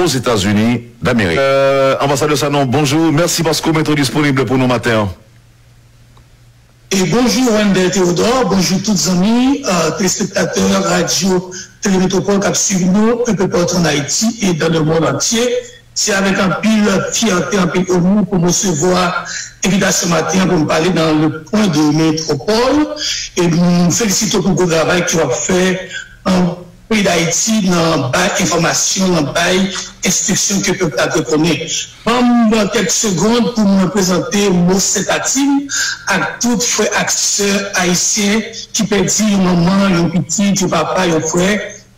Ozetazini Damerik. Anbasadè Sanon, bonjou. Mèsi paske w mete w disponible pou nou maten an. E bonjou Wendell Theodore, bonjou tout zanmi telespektatè radyo Tele Metropole kap swiv nou enpe patou an Ayiti e dan le mond antye. Se avèk anpil fyète, anpil onè pou m resevwa envitasyon maten an pou m pale nan Le Point de Métropole e m felisite w pou gwo travay ke w ap fè an. Peyi Dayiti nan bay enfòmasyon, nan bay enstriksyon ke pèp la dwe konnen. Ban m kèk segond pou mwen prezante mo senpati m ak tout frè ak sè ayisyen ki pèdi yon manman, yon pitit, yon papa, yon frè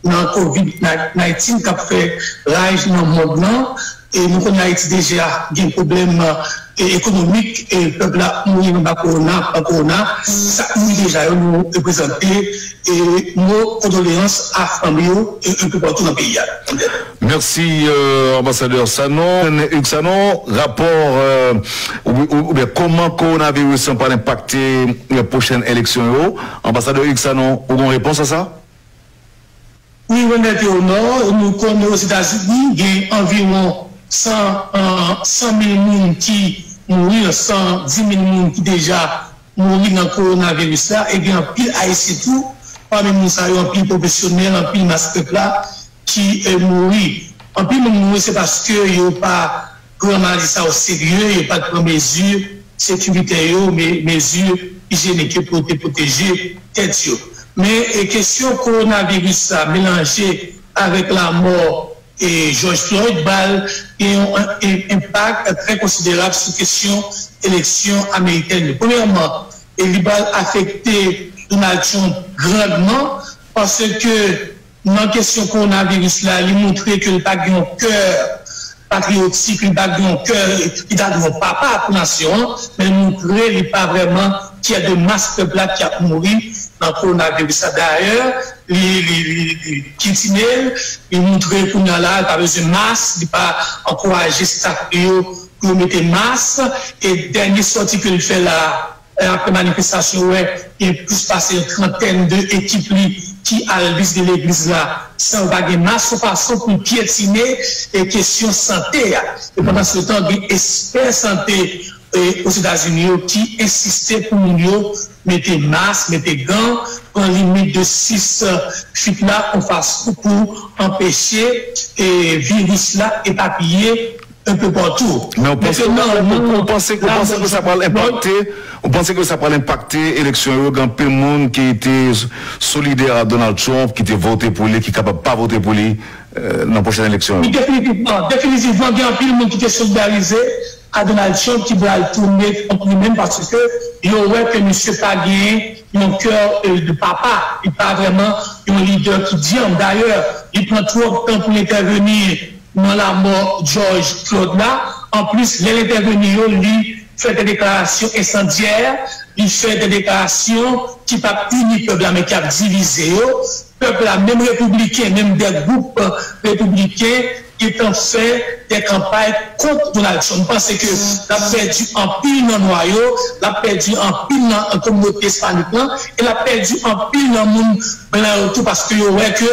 nan covid 19 k ap fè raj nan mond lan. Nou konnen Ayiti deja gen pwoblèm ekonomik, pèp la ap mouri anba kowona, pa kowona. Sa k mouri deja yo nou reprezante mo kondoleyans a fanmi yo anpil patou nan peyi a. Mèsi Anbasadè Sanon. Hugues Sanon, rapò oubyen kòman kowonaviris lan pral enpakte pwochèn eleksyon yo? Anbasadè Hugues Sanon, ou gen yon repons a sa? Wi Renette au Nord, nou konnen Ozetazini gen anviwon 100 mil moun ki mouri, 110 mil moun ki deja mouri nan kowonaviris la e gen anpil Ayisyen tou pami moun sa yo, anpil pwofesyonèl, anpil mas pèp la ki mouri. Anpil moun mouri se paske yo pa pran maladi sa o serye, yo pat pran mezi sekiritè yo, mezi ijyenik yo pou te pwoteje tèt yo. Men kesyon kowonaviris la melanje avèk lamò Jòj Floyd ba l gen yon enpak trè konsiderab sou kesyon eleksyon amerikèn yo. Premyèman, li ba l afekte Donald Trump grandman, paske Nan kesyon kowonaviris la, li montre ke l pa gen yon kè patriyotik, li pa gen yon kè ki ta dwe yon papa pou nasyon an, men l montre li pa vrèman fyè de mas pèp la ki ap mouri nan kowonaviris la. Dayè, li pyetine l, li montre kounye a la, li pa bezwen mas, li pa ankouraje staf li yo pou yo mete mas. E dènye sòti ke l fè la, Kè apre manifestasyon wè gen plis pase yon trantèn de ekip li ki al vizite legliz la san yo pa gen mas yon fason pou pyetine kesyon sante a. E pandan se tan gen espè sante Ozetazini yo ki ensiste pou moun yo mete mas, mete gan, pran limit de 6 fit la yon fason pou anpeche viris la epapiye. enpe patou. Men ou panse nan nan nan nan. Ou panse ou panse ke sa pral enpakte ou panse ke sa pral enpakte eleksyon yo gen anpil moun ki te solidè a Donald Trump ki te vote pou li ki kapab pa vote pou li nan pwochèn eleksyon yo? Wi definitivman, definitivman gen anpil moun ki te solidarize a Donald Trump ki pral tounen kont li menm paske yo wè ke misye pa gen yon kè de papa, li pa vrèman yon lidè ki dyanm. Dayè li pran twòp tan pou l entèveni. Nan lamò Jòj Klod la, anplis lè l entèveni yo, li fè de deklarasyon ensandyè, li fè de deklarasyon ki pa p ini pèp la men ki ap divize yo. Pèp la, menm repibliken, menm de gwoup repibliken gentan fè de kanpay kont Donald Trump. M panse ke l ap pèdi anpil nan nwa yo, l ap pèdi anpil nan kominote ispanik lan e l ap pèdi anpil nan moun blan yo tou paske yo wè ke.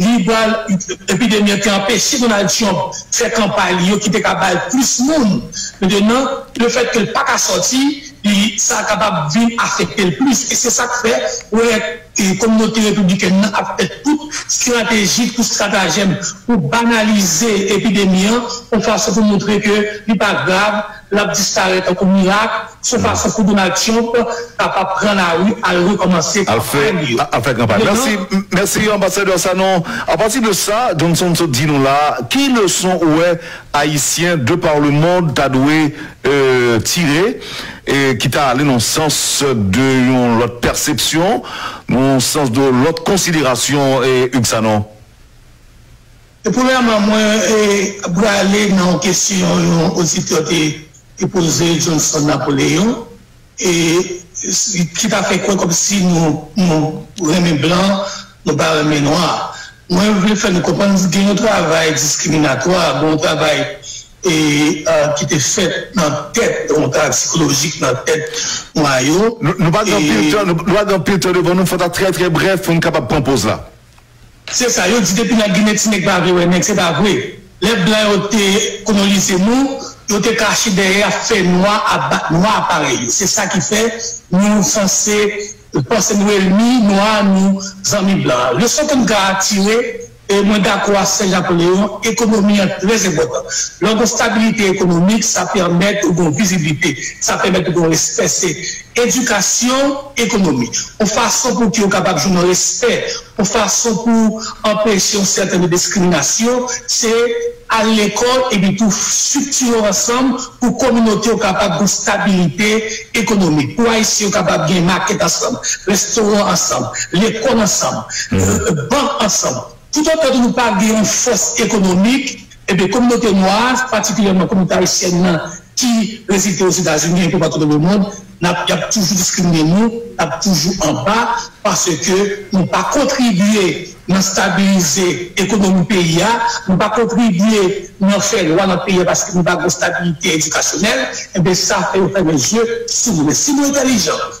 li pral epidemi an te anpeche Donald Trump fè kanpay li yo ki te ka bay plis moun metenan le fèt ke l pa ka sòti li sa kapab vin afekte l plis e se sa k fè ou wè kominote repiblikèn nan ap fè tout strateji tout stratajèm pou banalize epidemi an yon fason pou montre ke li pa grav. L ap disparèt tankou mirak sou fason pou Donald Trump kapab pran lari al rekòmanse kanpay li yo. Al fè kanpay. Mèsi, mèsi Anbasadè Sanon. Apati de sa Johnson sot di nou la a, ki leson ou wè Ayisyen de par le mond ta dwe tire e ki ta ale nan sans de yon lòt pèsepsyon, nan yon sans de lòt konsiderasyon Hugues Sanon? E premyèman mwen brale nan yon kesyon yon oditè te poze Johnson Napoleon e ki ta fè kwè kòmsi nou renmen blan nou pa renmen nwa. Mwen vle fè nou konprann gen yon travay diskriminatwa, gen yon travay ki te fèt nan tèt yon travay sikolojik nan tèt nwa yo. Nou pa gen anpil tan devan nou, fò ta trè trè brèf pou nou kapab pran poz la. Se sa yo di depi nan ginen ti nèg pa vle wè nèg se pa vre lè blan yo te konolize nou yo te kache dèyè ap fè nwa ap bat nwa parèy yo se sa ki fè nou sanse panse nou elmi nwa nou zanmi blan leson ke m ka tire e mwen dakò a sè japoleon ekonomi an trè enpòtan lè w gon stabilite ekonomik sa pèmèt ou gon viziblite sa pèmèt ou gon respè se. Edikasyon ekonomi, yon fason pou ki yo kapab jwenn yon respè, yon fason pou anpeche yon sèten de diskriminasyon, se al lekòl epi tou strikti yo ansanm pou kominote yo kapab gen stabilite ekonomik, pou Ayisyen yo kapab gen makèt ansanm, restoran ansanm, lekòl ansanm, bank ansanm. Toutotan tou nou pa gen yon fòs ekonomik, enben kominote nwa a, patikilyèman kominote ayisyèn nan ki rezilte Ozetazini enpe patou nan lemond, n ap y ap toujou diskrimine nou, n ap toujou anba paske nou pa kontribye nan stabilize ekonomi peyi a, nou pa kontribye nan fè lwa nan peyi a paske nou pa gen yon stabilite edikasyonèl, enben sa fè yo fèmen zye sou nou. Men si nou entèlijan,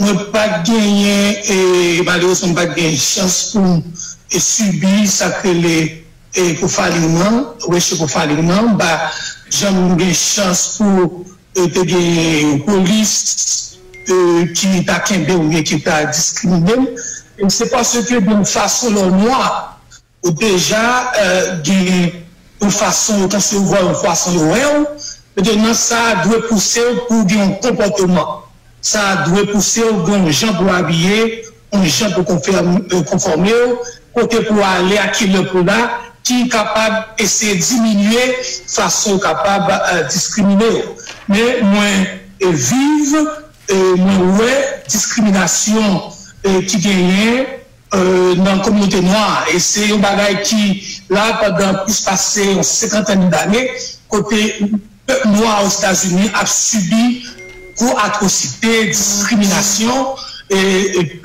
Mwen pat genyen e malerezman m pat gen chans pou m sibi sa k rele pou faling nan, reche pou faling nan. M pa janm gen chans pou te gen yon polis ki ta kenbe m oubyen ki ta diskrimine m. Se paske gen yon fason lè w nwa. Ou deja gen yon fason ou panse ou vwa yon pwason yo wè ou, nan sa a dwe pouse ou pou gen yon konpòteman, sa a dwe pouse ou gen yon jan pou w abiye, yon jan pou w konfòme ou, kote pou w ale ak ki lè pou w la, ki kapab eseye diminye fason yo kapab diskrimine ou. Men mwen viv, mwen wè diskriminasyon ki genyen. nan kominote nwa a e se yon bagay ki la pandan plis pase yon senkantèn dane kote pèp nwa a Ozetazini ap sibi gwo atwosite, diskriminasyon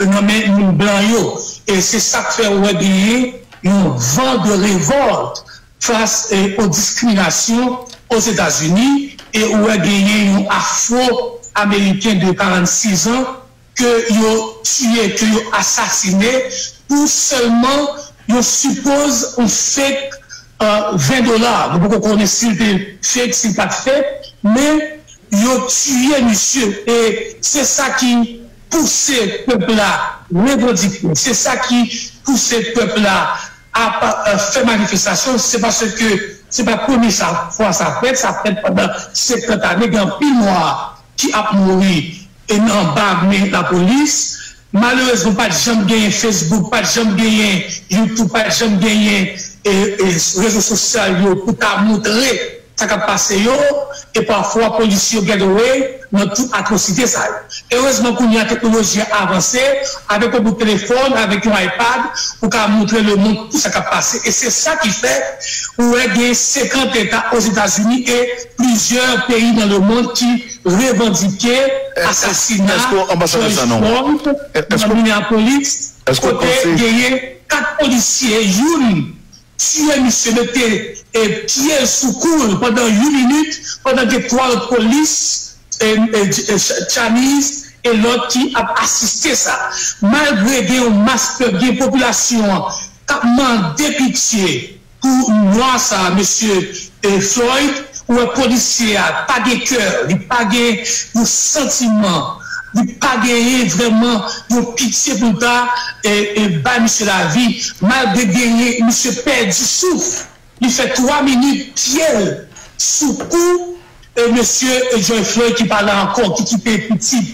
nan men moun blan yo e se sa k fè ou wè genyen yon van de revòlt fas o diskriminasyon Ozetazini e ou wè genyen yon afro ameriken de 46 an ke yo tiye, ke yo asasine pou sèlman yon suppose yon fake 20 dola, nou poko konnen si l te fake, si l pat fake, men yo tiye misye e se sa ki pouse pèp la revandike, se sa ki pouse pèp la ap fè manifestasyon, se paske se pa premye fwa sa fèt, sa fèt pandan 50 ane, gen anpil mò. ki ap mouri e nan anba men lapolis, malerezman pat janm genyen Facebook, pat janm genyen YouTube, pat janm genyen rezo sosyal yo pou ta moutre sa kap pase yo e pafwa polisye yo get away nan tout atwosite sa yo. Erezman kounya teknoloji a avanse, avèk yon bout telefòn, avèk yon iPad ou ka moutre lemond tout sa kap pase e se sa ki fè ou wè gen 50 eta Ozetazini e Plizyè peyi nan lemond ki revandike asasina George Floyd nan Minneapolis kote genyen 4 polisye youn tiye misye mete pye l sou kou l pandan yon minit pandan gen 3 lòt polis Chinese e lòt ki ap asiste sa. Malgre gen yon mas pèp gen popilasyon an k ap mande pitye. Pou nwa sa mesye Floyd ou wè polisye a pa gen kè li pa gen yon santiman li pa genyen vrèman yon pitye poul ta bay misye lavi malgre genyen misye pèdi souf li fè 3 minit pyel sou kou mesye Joy Floyd ki pala ankò ki kite pitit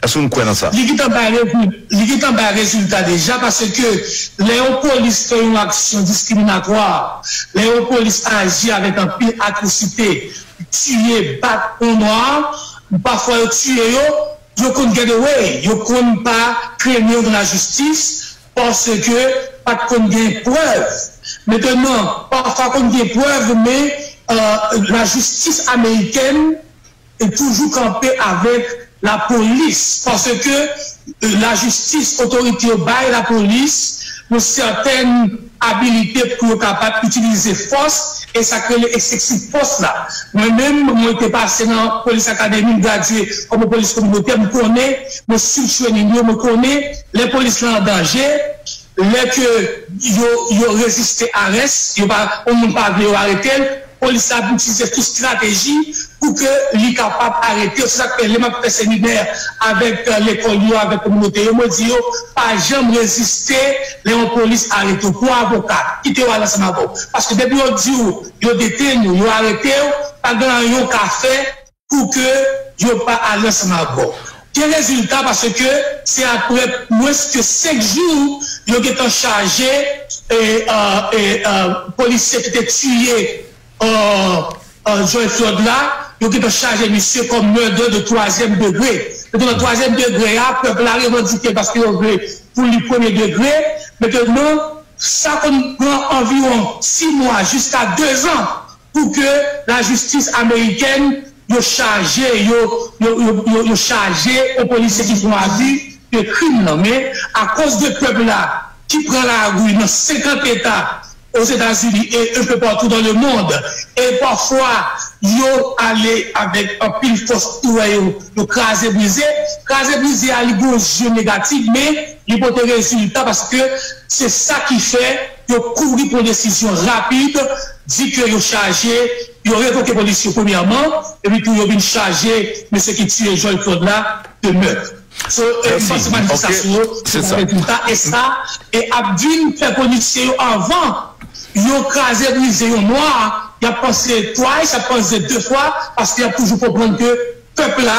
Èske nou kwè nan sa? Li gentan bay rezil, li gentan bay rezilta deja paske lè yon polis fè yon aksyon diskriminatwa, lè yon polis aji avèk anpil atwosite, tiye, bat moun nwa, pafwa yo tiye yo, yo konn get away, yo konn pa kleme yo nan lajistis paske pa t konn gen prèv. Mentènan, pafwa konn gen prèv men lajistis amerikèn, e toujou kanpe avèk la polis paske la jistis otorite yo bay la polis yon sètèn abilite pou yo kapab itilize fòs e sa k rele ekseksif fòs la mwen menm mwen te pase nan polis akademi m gradye kòm yon polis kominotè m konnen mwen swiv trening yo mwen konnen lè polis lan an danje. Lè ke yo yo reziste arès, yo pa, yon moun pa vle yo arete l, polis la ap itilize tout strateji pou ke li kapab arete yo. Se sa k fè lè m ap fè seminè avèk lekòl yo, avèk kominote yo, mwen di yo, pa janm reziste lè yon polis arete w. Pou avoka, kite yo al ansanm avè w. Paske depi yo di w yo detenn ou, yo arete w, pa gen anyen w ka fè. pou ke yo pa ale ansanm ak bò. Gen rezilta paske se apre mwens ke 5 jou yo gen tan chaje polisye ki te tiye George Floyd la, yo gen tan chaje misye kòm murder de twazyèm degre. Donk nan twazyèm degre a, pèp la revandike paske yo vle pou li premye degre. Mettenan, sa konn pran anviwon 6 mwa jiska 2 zan. pou ke la jistis amerikèn yo chaje yo yo chaje yon polisye ki fon abi de krim lan men akoz de pèp la ki pran lari nan 50 eta ozetazini e enpe patou dan le mond e pafwa yo ale avèk anpil fòs ou wè yo yo kraze brize kraze brize a li gon je negatif men li pote rezilta paske se sa ki fè. Yo kouri pran desizyon rapid, di ke yo chaje, yo revoke polis yo premyèman, epi tou yo vin chaje mesye ki tiye Joy Claude la de mèt. So, m panse manifestasyon yo te bay rezilta, e sa ap vin fè polisye yo anvan yo kraze brize yon nwa, y ap panse twice, y ap panse de fwa, paske y ap toujou konprann ke pèp la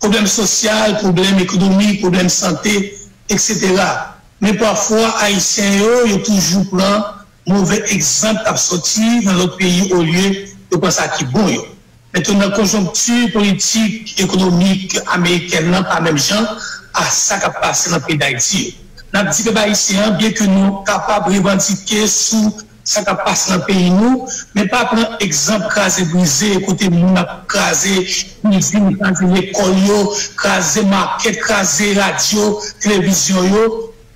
pwoblèm sosyal, pwoblèm ekonomik, pwoblèm sante, eksetera. Men pafwa Ayisyen yo, yo toujou pran move egzanp k ap sòti nan lòt peyi olye yo pran sa ki bon yo. Men tou nan konjonkti politik, ekonomik amerikèn nan pa menm jan a sa k ap pase nan peyi Dayiti yo. N ap di pèp ayisyen an byenke nou kapab revandike sou sa kap pase nan peyi nou men pa pran egzanp kraze brize kote moun ap kraze izin kraze lekòl yo kraze makèt kraze radyo televizyon yo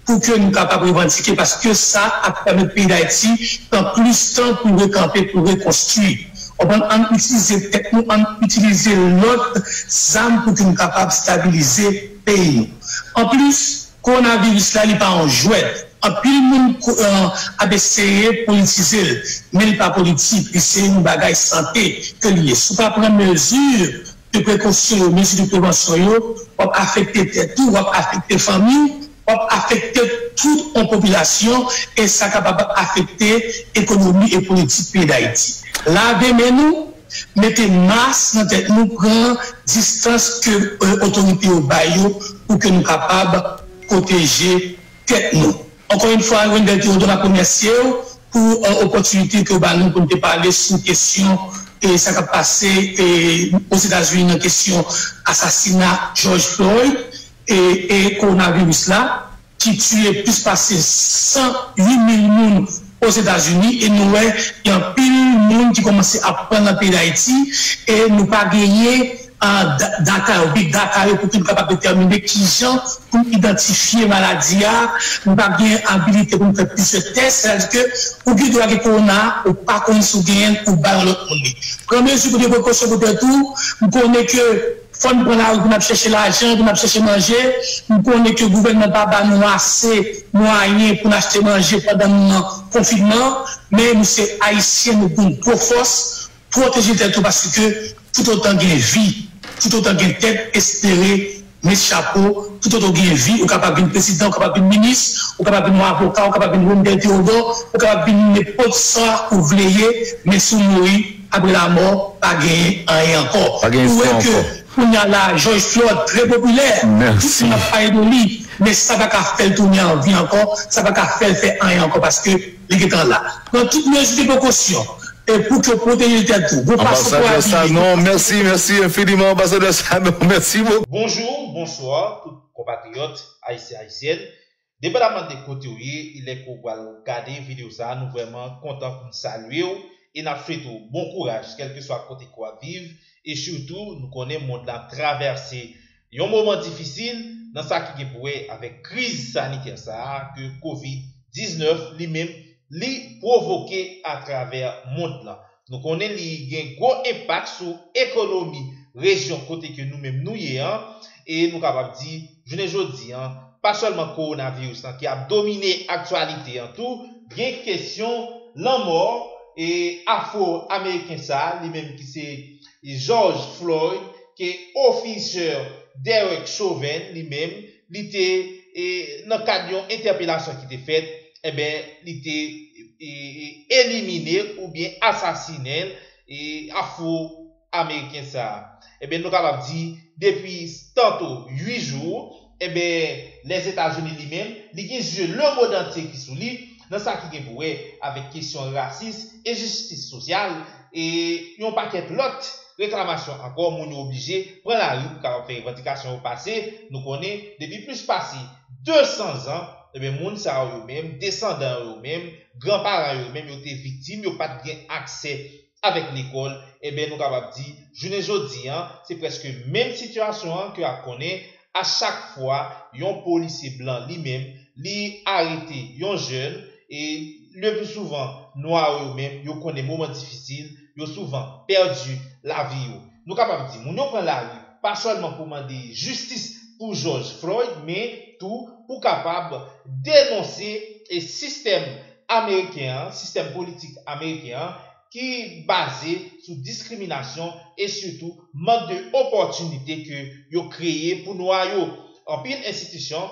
pou ke nou kapab revandike paske sa ap pèmèt peyi dayiti pran plis tan pou rekanpe pou rekonstwi konprann ann itilize tèt nou ann itilize lòt zam pou ke nou kapab stabilize peyi nou anplis. Corona virus la li pa yon jwèt, anpil moun ap eseye politize l, men li pa politik, li se yon bagay sante ke li ye, si w pa pran mezi de prekosyon yo, mezi de prevansyon yo, w ap afekte tèt ou, w ap afekte fanmi w, w ap afekte tout yon popilasyon e sa kapab afekte ekonomi e politik peyi Dayiti. Lave men nou! mete mas nan tèt nou pran distans ke otorite yo bay yo pou ke nou kapab pwoteje tèt nou. Ankò yon fwa Wendell Theodore map remèsye w pou opòtinite ke w ba nou pou nou te pale sou kesyon sa kap pase Ozetazini nan kesyon asasina George Floyd e Kowonaviris la. ki tiye plis pase 108 mil moun Ozetazini e nou wè gen anpil moun ki kòmanse ap pran nan peyi Dayiti e nou pa genyen data yo, big data yo pou ke nou kapab detèmine kijan pou n idantifye maladi a, nou pa gen abilite pou nou fè plizyè tès, sètadi ke ou gen dwa gen kowona a ou pa konn si w genyen l ou bay yon lòt moun li. Pran mezi pou gen prekosyon pou tèt ou, m konnen ke. Fò n pran lari pou n ap chèche lajan, pou n ap chèche manje. M konnen ke gouvènman pa ba nou ase mwayen pou n achte manje pandan moman konfinman, men nou se Ayisyen, nou pou n gwo fòs, pwoteje tèt ou paske toutotan gen vi, toutotan gen tèt, espere met chapo, toutotan w gen vi ou kapab vin prezidan, ou kapab vin minis, ou kapab vin yon avoka, ou kapab vin Wendel Theodore, ou kapab vin nenpòt sa ou vle ye, men si w mouri. Apre lamò pa genyen anyen ankò. Ou wè ke kounya la Jòj Flòd trè popilè, tout moun ap pale de li, men sa paka fèl tounen an vi ankò, sa paka fèl fè anyen ankò paske li gentan la. Pran tout mezi de prekosyon pou ke w pwoteje tèt ou. Bon fason pou w abiye, bon fason pou w pale. Bonjou, bonswa tout konpatriyòt, Ayisyen, Ayisyèn. Depandamman de kote ou ye e lè ke w pral gade video sa a, nou vrèman kontan pou n salye w e n ap swete w bon kouraj kèlkeswa kote ke w ap viv e sitou nou konnen mond lan ap travèse yon moman difisil nan sa ki gen pou wè avèk kriz sanitè sa a ke covid 19 li menm li pwovoke atravè mond lan. Nou konnen li gen gwo enpak sou ekonomi rejyon kote ke nou menm nou ye an, e nou kapab di, jounen jodi an, pa sèlman kowonaviris lan ki ap domine aktyalite an tou, gen kesyon lanmò e afro-ameriken sa a, li menm ki se George Floyd, ke ofisè Derek Chauvin li menm, li te nan kad yon entèpelasyon ki te fèt, enben li te elimine oubyen asasinen l afro ameriken sa, enben nou kapab di depi tanto 8 jou enben Lèzetazini li menm li gen zye lemodantye ki sou li nan sa ki gen pou wè avèk kesyon rasis, enjistis sosyal e yon pakèt lòt. Reklamasyon ankò, moun yo oblije pran lari pou kapab fè revandikasyon yo pase, nou konnen depi plis pase 200 zan, enben moun sa yo yo menm, desandan yo yo menm, gran paran yo yo menm yo te viktim, yo pat gen aksè avèk lekòl, enben nou kapab di jounen jodi an se prèske menm sitiyasyon an ke ap konnen a chak fwa yon polisye blan li menm li arete yon jèn e le pli souvan nwa yo yo menm yo konnen moman difisil yo souvan pèdi lavi yo. Nou kapab di, moun yo pran lari pa sèlman pou mande jistis pou Jòj Floyd men tou pou kapab denonse sistèm ameriken an, sistèm politik ameriken an ki baze sou diskriminasyon e sitou mank de opòtinite ke yo kreye pou nwa yo. Anpil enstitisyon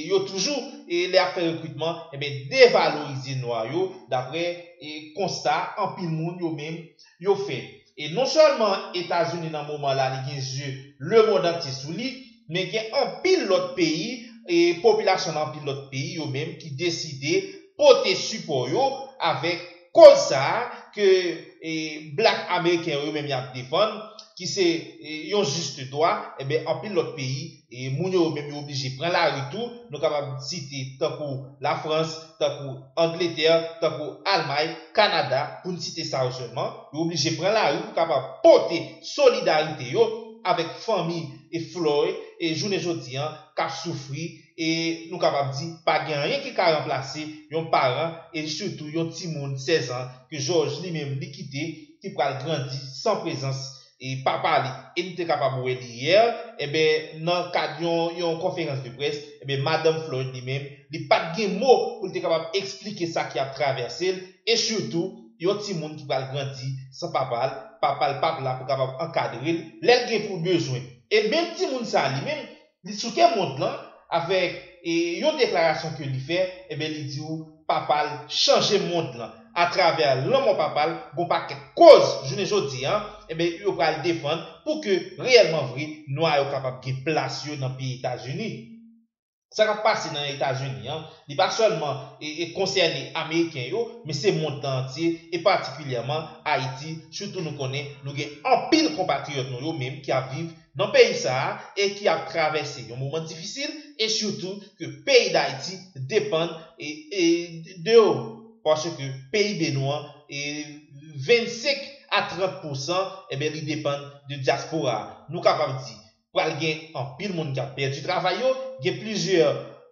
yo toujou lè yap fè rekritman enben devalorize nwa yo daprè konsta anpil moun yo menm yo fè. E non sèlman Etazini nan moman la li gen zye lemond antye sou li, Men gen anpil lòt peyi, e popilasyon nan anpil lòt peyi yo menm ki deside pote sipò yo avèk koz sa a ke Black Ameriken yo yo menm y ap defann, ki se yon juste droit, enben anpil lòt peyi moun yo yo menm yo oblije pran lari tou, nou kapab site tankou La Frans, tankou Angletè, tankou Almay, Kanada pou n site sa yo sèlman, yo oblije pran lari pou kapab pote solidarite yo avèk fanmi. e Floyd e jounen jodi an k ap soufri e nou kapab di pa gen anyen ki ka ranplase yon paran e sitou yon timoun 16 an ke Jòj li menm li kite ki pral grandi san prezans e papa li e nou te kapab wè li yè enben nan kad yon yon konferans de près enben madanm Floyd li menm li pa t gen mo pou l te kapab eksplike sa ki ap travèse l e sitou Yon timoun ki pral grandi san papa l, papa l pap la pou kapab ankadre l lè l gen pou l bezwen. E menm timoun sa a li menm, li sou tè mond lan, avèk yon deklarasyon ke li fè, enben li di ou papa l chanje mond lan. Atravè lanmò papa l, gon pakèt koz jounen jodi a, enben yo pral defann pou ke reyèlman vre nwa yo kapab gen plas yo nan peyi Etazini. Sa k ap pase nan Etazini an, li pa sèlman konsène ameriken yo, men se mond lan antye, e patikilyèman Ayiti, sitou nou konnen nou gen anpil konpatriyòt nou yo menm ki ap viv nan peyi sa a e ki ap travèse yon moman difisil e sitou ke peyi Dayiti depann de yo paske PIB nou an 25 a 30 pousan li depann de dyaspora a. Nou kapab di. pral gen anpil moun kap pèdi travay yo, gen plizyè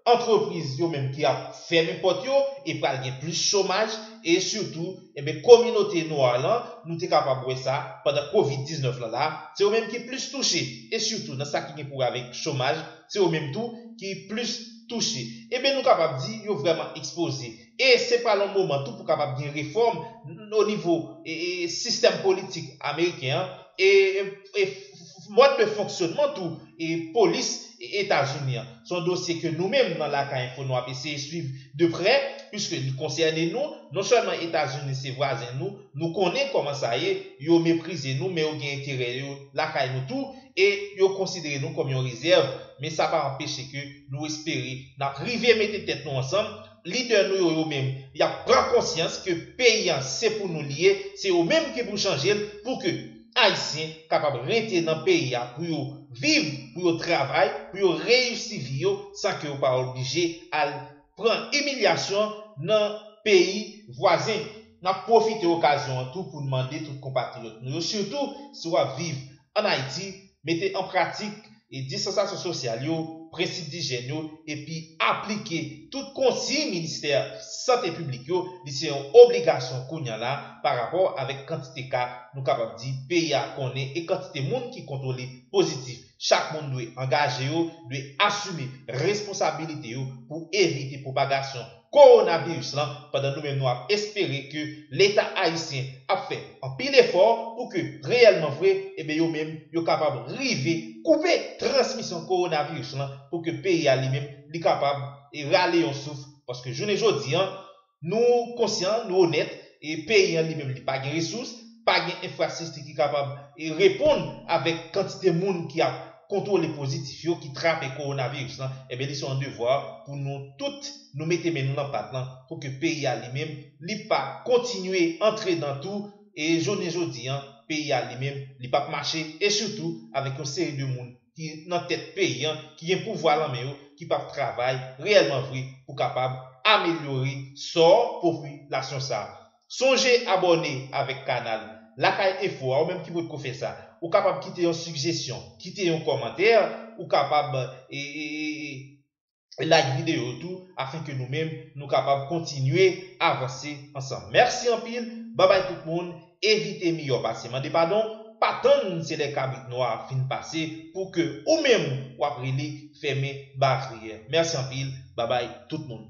antrepriz yo menm ki ap fèmen pòt yo e pral gen plis chomaj e sitou enben kominote nwa lan nou te kapab wè sa pandan covid 19 lan la se yo menm ki plis touche e sitou nan sa ki gen pou wè avèk chomaj se yo menm tou ki plis touche enben nou kapab di yo vrèman ekspoze. e se pral yon moman tou pou kapab gen refòm o nivo sistèm politik ameriken an e mòd de fonksyonman tou polis Etazini an. Se yon dosye ke nou menm nan Lakay Enfo nou ap eseye swiv de prè puiske li konsène nou, non sèlman Etazini se vwazen nou, nou konnen kòman sa ye, yo meprize nou men yo gen enterè yo lakay nou tou e yo konsidere nou kòm yon rezèv men sa pa anpeche ke nou espere n ap rive mete tèt nou ansanm Lidè nou yo yo menm yap pran konsyans ke peyi an se pou nou li ye, se yo menm ki pou chanje l pou ke Ayisyen kapab rete nan peyi a pou yo viv, pou yo travay, pou yo reyisi vi yo san ke yo pa oblije al pran imilyasyon nan peyi vwazen. N ap pwofite okazyon an tou pou n mande tout konpatriyòt nou yo sitou si w ap viv an Ayiti, Mete an pratik distansasyon sosyal yo, prensip dijyèn yo epi aplike tout konsiy ministè sante piblik yo li se yon obligasyon kounya la pa rapò avèk kantite ka nou kapab di peyi a konnen e kantite moun ki kontwole pozitif chak moun dwe angaje yo dwe asime responsabilite yo pou evite pwopagasyon Kowonaviris lan pandan nou menm nou ap espere ke leta ayisyen ap fè anpil efò pou ke reyèlman vre ebyen yo menm yo kapab rive koupe transmisyon kowonaviris lan pou ke peyi a li menm li kapab rale yon souf paske jounen jodi an nou konsyan nou onèt peyi an li menm li pa gen resous, pa gen enfrasisti ki kapab reponn avèk kantite moun ki ap kontwole pozitif yo ki trape kowonaviris lan, enben li se yon devwa pou nou tout nou mete men nou nan pat lan pou ke peyi a li menm li pa kontinye antre dan tou e jounen jodi an peyi a li menm li pap mache e sitou avèk yon seri de moun ki nan tèt peyi an, ki gen pouvwa lan men yo, ki pap travay reyèlman vre pou kapab amelyore sò popilasyon sa. Sonje abòne avèk kanal Lakay Enfo a ou menm ki potko fè sa. Ou kapab kite yon sigjesyon, kite yon kòmantè, ou kapab. like video yo tou afin ke nou menm nou kapab kontinye avanse ansanm merci anpil babay tout moun evite miyò pase mande padon pa tann se lè kabrit nwa fin pase pou ke ou menm wap rele fèmen baryè merci anpil babay tout moun.